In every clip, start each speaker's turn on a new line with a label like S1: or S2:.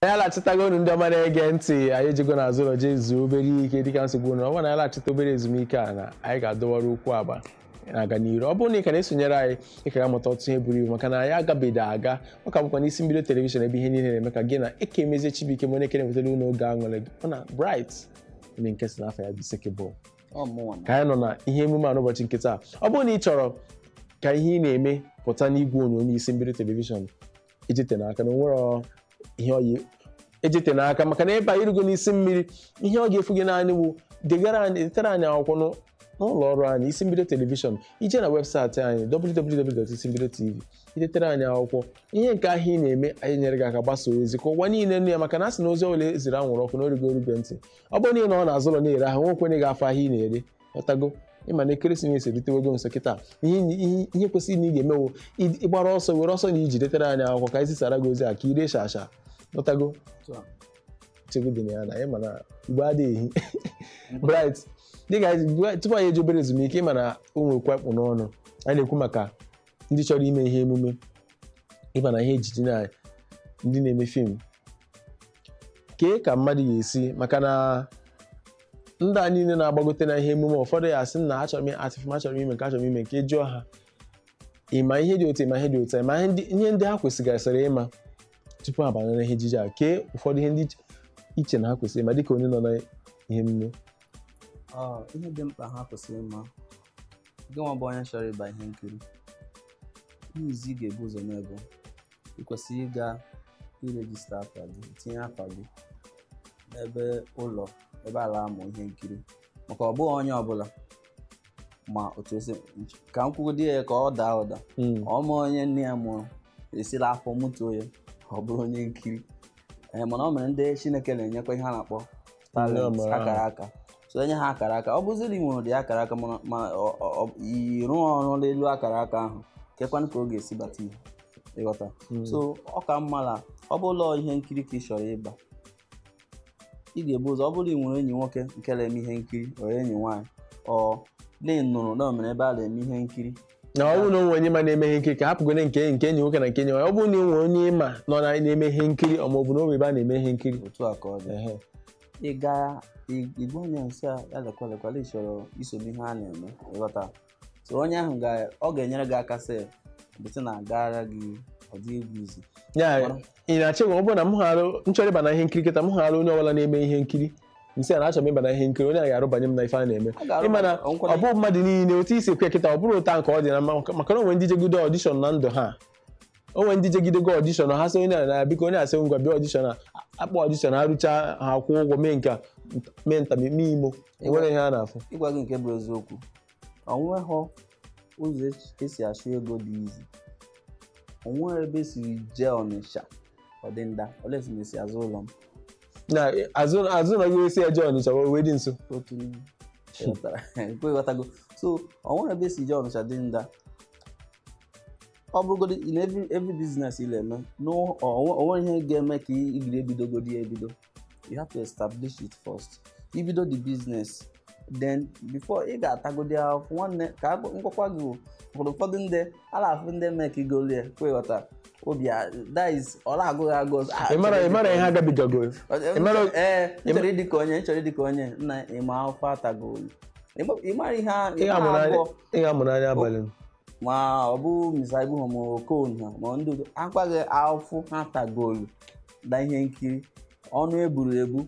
S1: anyị alachịtago unu ndị ọma na-ege ntị anyị ejego n'azụ ụlọ jee zuo obere ike dịka nsogbu na ọ bụrụ na anyị lachịta obere ezumike a na anyị ga-adọwara ukwu agba na-aga n'iru ọ bụrụ na ị ka na-esonyere anyị ị ka ga-amụta ọtụtụ ihe buru ibu maka na anyị agabeghị aga ọ ka bụkwa n'isi mbido telivishọn ebe ihe niile na-eme ka gị na eke emezie chibuike mụ na-ekere wetara unu oge aṅụrị gị ọ na bright onye nke si n'afọ ya bụ sekebụl Ọ mụnwa na- ka anyị nọ na ihe emume a n'ụbọchị nke taa ọ bụrụ na ị chọrọ ka ihe ị na-eme pụta n'igwe onyonyo isi mbido telivishọn ejite n'aka na o nwere ọ- ihe ọyị ejite n'aka maka na ebe a i rugo n'isi mmiri ihe ọ ga-efu gị naanị bụ degara anyị detere anyị akwụkwọ n'ụ- n'ụlọ ọrụ anyị isi mbido telivishọn i jee na webụsaịtị anyị www.isimbidotv i detere anyị akwụkwọ ihe nke ahụ ị na-eme anyị nyere gị aka gbasaa ozi ka ụwa niile nụ ya maka na a sị na ozi ọbụla e ziri anwụrụ ọkụ na o rugo orube ntị ọ bụrụ na ị nọ n'azụ ụlọ na-ere ahịa o nwekwa onye ga-afụ ahịa ị na-ere ghọtago ị ma na ekeresimesi erutewego nso kịta ihe nyi- ihe- ihe kwesịrị na ị ga-eme bụ ị- ịgbara ọsọ were ọsọ na ije detere anyị akwụkwọ ka anyị zisara gị ozi a ka i ree sharp sharp ghọtago Otu a. chegbu dị na ya na anyị ma na igbe adịghị ehi bright dịka anyị si- tupu anyị ejee obere ezumike ị ma na o nwee okwu a kpụ n'ọnụ anyị na-ekwu maka ndị chọrọ ime ihe emume ị ma na ihe ejije na ndị na-eme fim kee ka mmadụ ga-esi maka na ndị a niile na-agbagote na ihe emume ụfọdụ ya asị na achọrọ m act film achọrọ m ime nke a achọrọ m ime nke a jụọ ha ị ma ihe dị otu a ị ma ihe dị otu a ị ma ihe ndị- ihe ndị ha kwesịgasịrị ịma tupu ha banyere ihe ejije a kee ụfọdụ ihe ndị i che- i che na ha kwesịrị ịma dịka onye nọ na ihe emume
S2: Ọ, ihe dị mkpa ha kwesịrị ịma gị nwa bụ onye chọrọ ịba ihe nkiri ihe izizi ị ga-ebu ụzọ mee bụ ị kwesịrị ịga register afa gị tinye afa gị n'ebe ụlọ ebe a la-amụ ihe nkiri maka ọ bụghị onye ọbụla ma otu esi ka m kwugodi ya ka ọ daa ụda hmm. ọ ma onye nne ya mụrụ e si la afọ mụtuo ya ọ bụrụ onye nkiri ee eh, mana o nwere ndị Chineke na-enyekwa ihe a na-akpọ talent akara aka so e nye ha akara aka ọ bụziri i nwere ụdị akara aka mana ma ịrụ ọrụ n'elu akara aka ahụ kekwanụ ka ọ ga-esi bata ihe ị ghọta hmm. so ọ ka mma na ọ bụ la ihe nkiri ka ị chọrọ ịba ị ga-ebu ụzọ ọ bụrụ ị nwere enyi nwoke nke na-eme ihe nkiri or enyi nwaanyị or na ị nụrụ na o nwere ebe a na-eme ihe nkiri na ọ bụrụ na o nwee
S1: onye ị ma na-eme ihe nkiri ka a hapụgodi nke nke enyi nwoke na nke enyi nwaanyị ọ bụrụ na o nwee onye ị ma nọ na na-eme ihe nkiri ọ ma ọ bụ na o nwee ebe a na-eme ihe nkiri otu a ka ọ dị Ehe.
S2: ị gaa ị- ị gwa onye na-isi ya lekwa lekwa na ị chọrọ iso n'ihe a na-eme ị ghọta so onye ahụ ga ọ ga-enyere gị aka sị bụsị na agaara gị ọ dị egwu izu ya
S1: ị na-eche na ọ bụrụ na m hara nchọrọ ịba na ihe nkiri kịta m hụrụ onye ọbụla na-eme ihe nkiri m sị ya na-achọ m ịba na ihe nkiri onye a ga-edubanye m na ife a na-eme ịma na ọ bụ mmadụ niile otu isi ekwe kịta ọ bụrụ ụta nke ọ dị na mma maka na onwe ndị jegide audition na ndụ ha onwe ndị jegidego audition ha sị onye na biko onye asị ngwa bịa audition akpọ audition arụcha ha kwụọ ụgwọ mee nke mee nta mee imo enwerọ ihe a na-afụ ịgwa gị nke bụ eziokwu
S2: onweghị ụzọ esi achụ ego dị easy onweghị ebe esiri jee ọnịsha ọdịnda unless ị na esi azụ ụlọ m na
S1: azụ azụ ụnọ gị esi eje ọnịsha wee wee dị nso otu
S2: n'ime ịghọtara ekwe ịghọtago so onweghị ebe esi jee ọnịsha dị nda ọ bụrụgodị in every every business ị na-eme na onwere ihe ga-eme ka ị bido ebidogodị ya ebido you have to establish it first ibido the business then before ị ga-atagodi ahụhụ nwanne ka agụ- ngwakwa gị wụ, ụfọdụ ụfọdụ ndị a na-afụ ndị makegolu ya ọkwa ịghọta obi a that is ọ na-agụ gị agụ ọzọ. Ah, ị mara ị mara ihe
S1: ha gabigagoro Ọ- ị mara-
S2: ee ị chọrọ ịdị ka onye ị chọrọ ịdị ka onye nna ịma afụfụ ha tago ị mara ihe a- ị ihe ga-amụ a n'anya
S1: abụọ ị ga-amụ anya abalị m. ma ọ
S2: bụ Mr Ibu ha ma okon ha ma ndị udo akwaghị ahụhụ ha tagolu na ihe nkiri ọnụ eburu ebu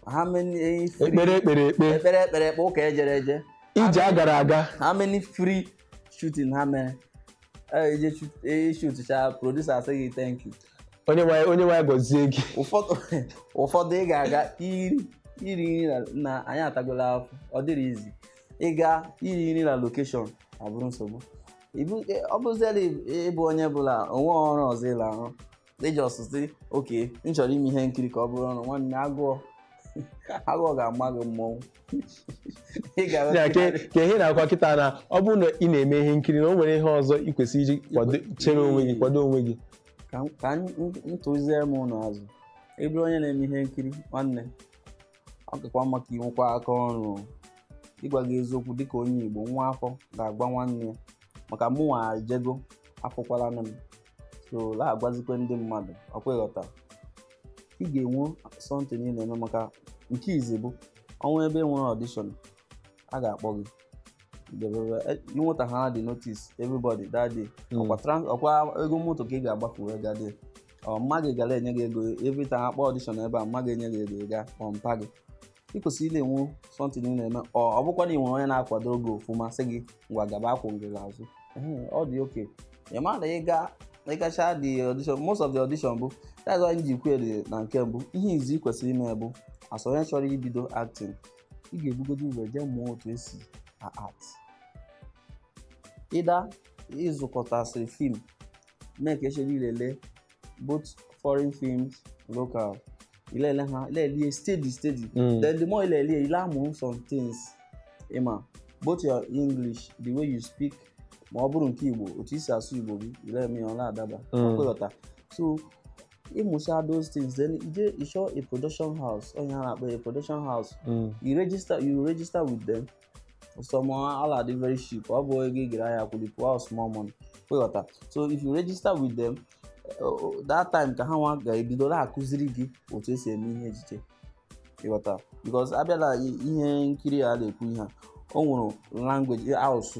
S2: how many eh, free- ekpere ekpere ekpe ekpere ekpere ekpe ụka ejere eje ije a gara aga
S1: how many
S2: free shooting ha mere Eh, ije shoot- eh, shootcha producer asị gị thank you onye nwe
S1: onye nwe anyị gọzie gị ụfọdụ
S2: ụfọdụ ị ga-aga iri iri nri na- na anyị atagola afụ ọ dịrọ easy ịga iri nri na location abụrụ nsogbu Ibu- e- ọ bụzie la ịbụ onye bụ la onwerọ ọrụ ọzọ ị la-arụ ị just sị okay m chọrọ ime ihe nkiri ka ọ bụrụ ọrụ nwanne agụọ agụọ ga-ama gị mmọnwụ ị ga-ahụ Ya, ke
S1: ka ihe m na-akọwa kịta na ọ bụrụ na ị na-eme ihe nkiri na o nwere ihe ọzọ ị kwesịrị iji kwado- chere onwe gị kwado onwe gị ka m- ka
S2: m m tụzie m ụnụ azụ ị bụrụ onye na-eme ihe nkiri nwanne ọ kakwa mma ka inwekwa aka ọrụ o. ịgwa gị eziokwu dịka onye igbo nwa afọ ga-agwa nwanne ya maka mụnwa ejego afụkwala nụ m so na-agwazikwa ndị mmadụ ọkwa ịghọta ị ga-enwe something ị na-eme maka nke izi bụ onwe ebe enwere audition a ga-akpọ gị ịnweta ha dị notice everybody that day hmm. ọkwa ego moto ka ị ga-agbafu wee gaa there or mma gị ga la-enye gị ego every time akpọ audition ebe a mma gị enye gị ego ị gaa kpọ mpa gị ị kwesịrị ị na-enwe something ị na-eme ọ ọ bụkwa na ị nwere onye na-akwado gị ofụma sị gị ngwa gaba akwụ gị n'azụ Ehe, ọ dị okay ị ma na ị ga na ịgacha the audition most of the audition bụ that's why m ji kwuo dị na nke mbụ ihe izi ị kwesịrị ime bụ as onye chọrọ ibido acting ị ga-ebugodo ụzọ jee mụọ otu esi a-act either ịzụkọtasịrị film make sure na i lelee both foreign films local ị le-ele ha ị le-ele steady steady mm. then the more ị le-ele ị la-amụ some things ma both your english the way you speak ma ọ bụrụ nke igbo otu i si asụ igbo gị ị le-eme ya ọ na-adaba ọkwa ị ghọta mm. so ị mụcha those things then i je ịchọ a production house o nwee ihe a na-akpọ a production house mm. you register you register with them some la-adị very cheap ọ bụ ego ị gara ahịa kwụrụ pụọ small money ị ghọta so if you register with them uh, that time ka ha nwa ga-ebido na-akụziri gị otu e si eme ihe ejije ị ghọta because a bịa la ihe nkiri a na-ekwu ihe a o nwere language asụsụ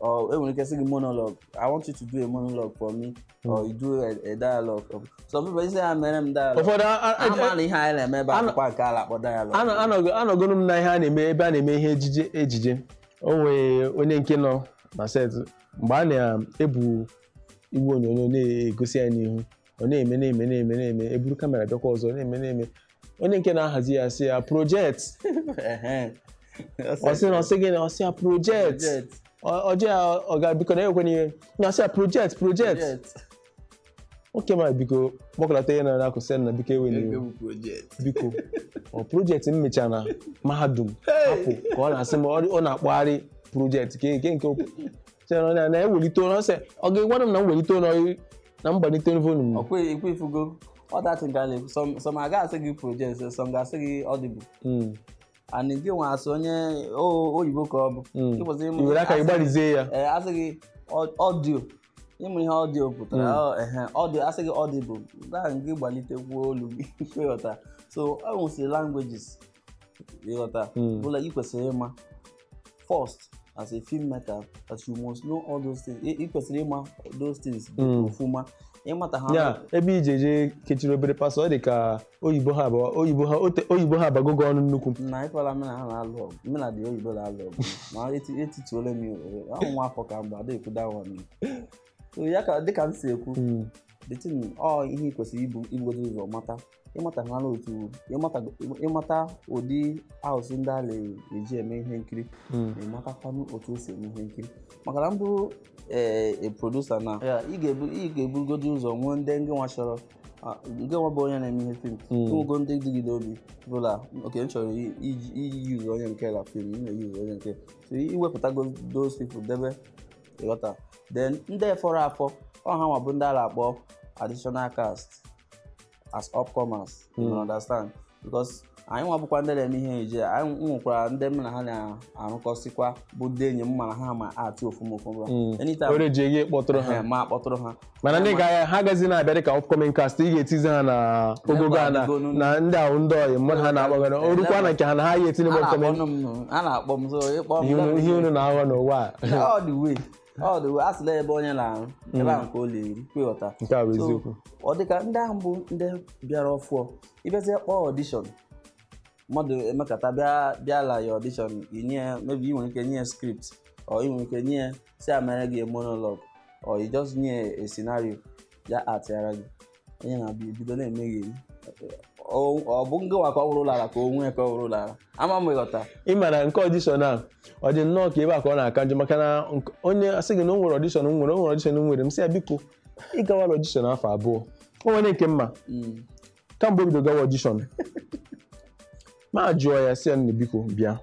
S2: or e nwere ike sị gị monologue i want you to do a monologue for me or hmm. you do a, a dialogue of some people sị ha meere m dialogue ụfọdụ amala
S1: ihe anyị
S2: na-eme ebe akwụkwọ nke a la-akpọ dialogue anọgoro m na ihe a
S1: na-eme ebe a na-eme ihe ejije ejije o nwere onye nke nọ na set mgbe a na-ebu igwe onyonyo na-egosi ya n'ihu ọ na-eme na-eme na-eme na-eme e buru kamera bịakwa ọzọ na-eme na-eme onye nke na-ahazi ya sị ya project ọ sị na ọ sị gị na ọ sị ya project Ọ- ọ yọọ ya ọga biko na ewekwana iwe na ọ sị ya project project oke m biko kpọkọlata ihe ị na-akọ sị na biko ewena iwe biko ọ project m mechara na mahadum hapụ ka ọ na-asị m ọ ọ na-akpọgharị project ke nke nke okwu. sịrị na na ewelite olu sị ọ ga-agwara m na m welite olu na m gbalite volume ọkwa ekwe ị
S2: fụgo ọdachi nke a na-ekwu some- some a ga-asị gị project some ga-asị gị audible Mm, and gị nwa asị onye o- oyibo ka ọ bụ mm. Ị kwesịrị ịmụ- i were aka gị
S1: asị- gbarizie ya ee a sị
S2: gị ọ- audio ị ma ihe audio pụtara Mm. ọ- ehe, audio a sị gị audible gaa gị gbalitekwuo olu gị ị ghọta so o nwesịrị languages ị ghọta hmm. bụ la ị kwesịrị ịma first as a filmmaker as you must know all those things ị kwesịrị ịma those things hmm. ọfụma ị mata ha ya ebe ị je-eje
S1: kechiri obere pasọ ọ dị ka oyibo ha abụọ oyibo ha ote oyibo a abagogo ọnụ nnukwu na ịkwa la mụ na
S2: ha na-alụ ọgụ mụ na ndị oyibo na-alụ ọgụ ma etituola m ahụ nwa afọ ka mgbe ada ekwuda ahụ ya ka dịka m si ekwu hmm. the thing ọ ihe ị kwesịrị ibu ibugodo ụzọ mata ịmata ha na otu ịmata ịmata ụdị asụsụ ndị a na-eji eme ihe nkiri Mm. na ịmatakwanụ otu e si eme ihe nkiri maka na mbụ ee producer na ya ị ga-ebu ị ga-ebugodo ụzọ nwee ndị ngị nwa chọrọ ah, ngị nwa bụ onye na-eme ihe film Mm. nwego ndị dị gị l'obi bụ la okay m chọrọ i- iji iji yuzu onye nke a la film m na-eyuzu onye nke so i wepụtago those people debe ị ghọta then ndị fọrọ afọ ọ ha nwa bụ ndị a na-akpọ additional cast as upcomers you Hmm. understand because anyị nwa bụkwa ndị na-eme ihe ejije anyị m nwekwara ndị m na ha na-arụkọsịkwa bụ ndị enyi m mana ha ma act ọfụma ọfụma Mm. anytime were ji gị
S1: kpọtụrụ ha ha ma akpọtụrụ ha
S2: mana ndị ga
S1: ha agazi na-abịa dịka upcoming cast ị ga-etizi ha na ogogo a na Agogonu. na ndị ahụ ndị ọyị mmadụ ha na-agbagara o rukwa na nke ha na ha ya etinye a bụ upcoming na-akpọ m a na-akpọ m
S2: so ịkpọ m ihe unu- ihe unu na-aghọ
S1: n'ụwa a all the way
S2: ọ dị a sị la ebe onye na-arụ ebe ahụ ka ọ la-eri kwa ị ghọta nke a bụ So,
S1: eziokwu ọ dịka ndị ahụ
S2: bụ ndị bịara ọfụọ ị bịazie kpọọ audition mmadụ emekata bịa bịa la ya audition i nye ya maybe ị nwere ike nye ya script or ị nwere ike nye ya sị ya mere gị monologue or i just nye ya a scenario ya actịara gị onye na-abịa ebido na-emegheri Ọ- ọ bụ ngị nwa ka ọ wụrụ ụlọ ala ka onwe ya ka ọ wụrụ ụlọ ala ama m ị ghọta ị mara nke audition
S1: a ọ dị nnọọ ka ebe a ka ọ na-aka njọ maka na nke- onye asị gị na o nwere audition m nwere o nwere audition m nwere m sị ya biko ị gawara audition afọ abụọ o nwere nke m ma Mm. kamgbe o bido gawa audition m ajụọ ya sị ya nne biko bịa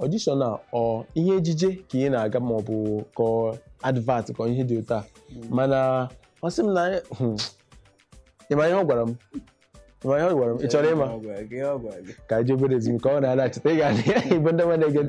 S1: audition a ọ ihe ejije ka ị na-aga ma ọ bụ ka ọ advert ka ọ ihe dị otu a mana ọ sị m na anyị- hmm, ị ma ihe ọ gwara m Ị ma ihe ọ gwara m ị chọrọ ịma Ọ gwara gị, ọ gwara gị. ka anyị jee obere ezumike ọ na-alachite ị ga-adị egbu ndị mmadụ na-ege ntị